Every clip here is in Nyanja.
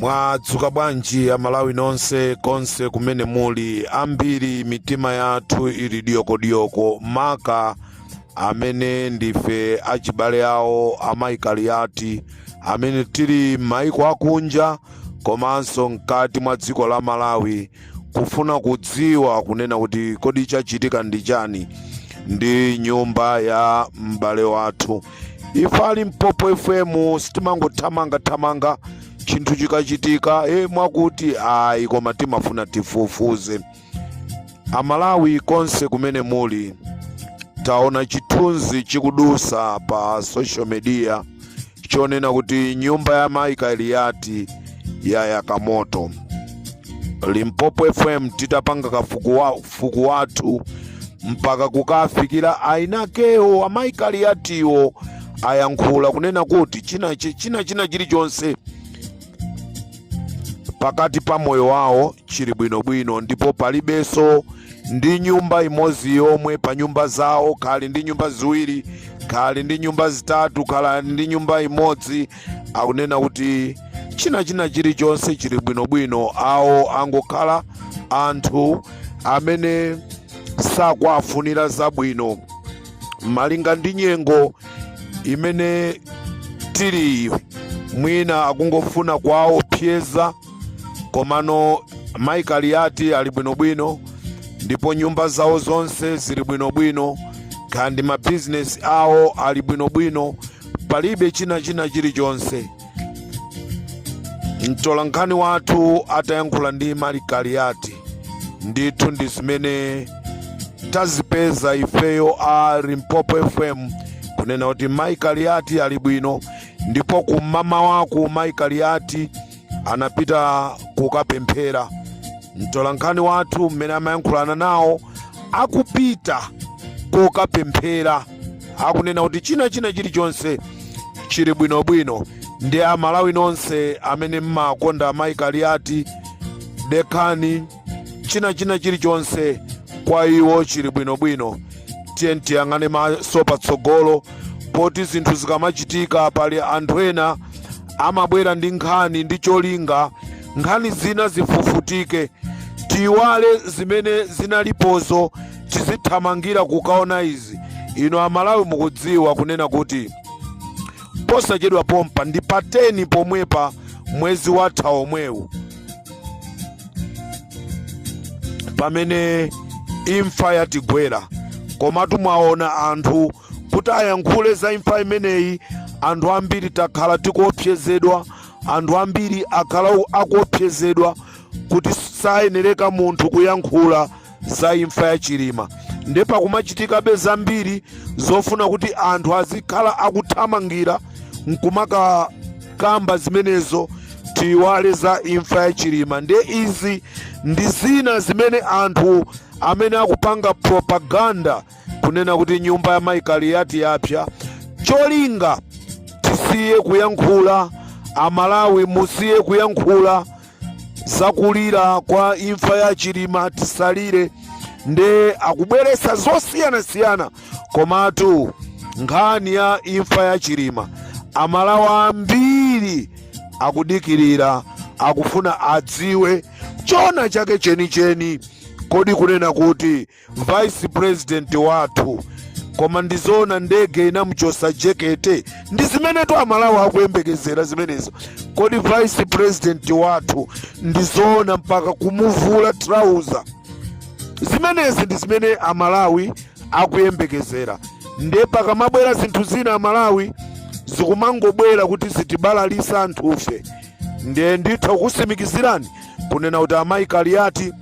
mwadzuka bwanji amalawi nonse konse kumene muli ambiri mitima yathu ili diyokodiyoko maka amene ndife achibale awo amayi Kaliati amene tili m'maiko akunja komanso mkati mwa dziko la malawi kufuna kudziwa kunena kuti kodi chachitika ndi chani ndi nyumba ya m'bale wathu ife a Limpopo FM sitimangothamangathamanga chinthu chikachitika e mwakuti ayi koma timafuna tifufuze Amalawi konse kumene muli, taona chithunzi chikudutsa pa social media chonena kuti nyumba ya Mai Kaliati yayaka moto. Limpopo FM titapanga kafukufuku wathu mpaka kukafikira eniakewo Amai Kaliatiwo ayankhula kunena kuti china china chilichonse pakati pa moyo wawo chili bwinobwino ndipo palibenso ndi nyumba imodzi yomwe pa nyumba zawo kaya ali ndi nyumba ziwiri kaya ali ndi nyumba zitatu kaya ali ndi nyumba imodzi akunena kuti china china chilichonse chili bwinobwino awo angokhala anthu amene sakuwafunira zabwino malinga ndi nyengo imene tili iyi mwina akungofuna kuwaopyeza komano mayi Kaliati ali bwinobwino ndipo nyumba zawo zonse zili bwinobwino kaya ndi mabizinesi awo ali bwinobwino palibe china china chilichonse mtolankhani wathu atayankhula ndi mayi Kaliati ndithu ndi zimene tazipeza ifeyo a limpopo fm kunena kuti mayi Kaliati ali bwino ndipo kummawaku mayi Kaliati anapita kukapemphera mtolankhani wathu mmene amayankhulana nawo akupita kukapemphera akunena kuti china china chilichonse chili bwinobwino ndi amalawi nonse amene mmakonda mayi kaliati dekhani china china chilichonse kwa iwo chili bwinobwino tiyeni tiyang'ane maso patsogolo poti zinthu zikamachitika pali anthu ena amabwera ndi nkhani ndi cholinga nkhani zina zifufutike tiiwale zimene zinalipozo tizithamangira kukaona izi ino amalawi mukudziwa kunena kuti posachedwa pompa ndi pa 10 pomwepa mwezi watha omwewu pamene imfa yatigwera komatu mwaona anthu kuti ayankhule za imfa imeneyi anthu ambiri takhala tikuopsezedwa anthu ambiri akhala akuopsezedwa kuti sayenereka munthu kuyankhula za imfa ya Chilima nde pakumachitikabe zambiri zofuna kuti anthu azikhala akuthamangira nkumakakamba zimenezo tiyiwale za imfa ya Chilima nde izi ndi zina zimene anthu amene akupanga propaganda kunena kuti nyumba ya mayi kaliyati yapsa cholinga tisiye kuyankhula amalawi musiye kuyankhula zakulira kwa imfa ya chilima tisalire nde akubweresa zosiyanasiyana komatu nkhani ya imfa ya chilima amalawi ambiri akudikirira akufuna adziwe chona chake chenicheni kodi kunena kuti vice president wathu koma ndizoona ndege inamuchosa jekete ndi zimenetu amalawi akuyembekezera zimenezo kodi vice president wathu ndizoona mpaka kumuvula trouser zimenezi ndi zimene amalawi akuyembekezera nde pakamabwera zinthu zina amalawi zikumangobwera kuti zitibalalisa anthufe nde nditha kukusimikizirani kunena kuti amayi kaliyati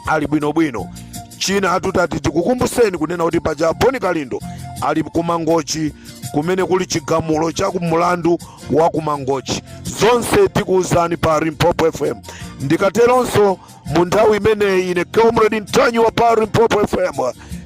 ali bwinobwino chinanso titati tikukumbuseni kunena kuti paja boni kalindo ali kumangochi kumene kuli chigamulo cha mulandu wa kumangochi zonse tikuwuzani pa limpopo fm ndikateronso mu nthawi imeneyi ine comrade ntanyiwa pa limpopo fm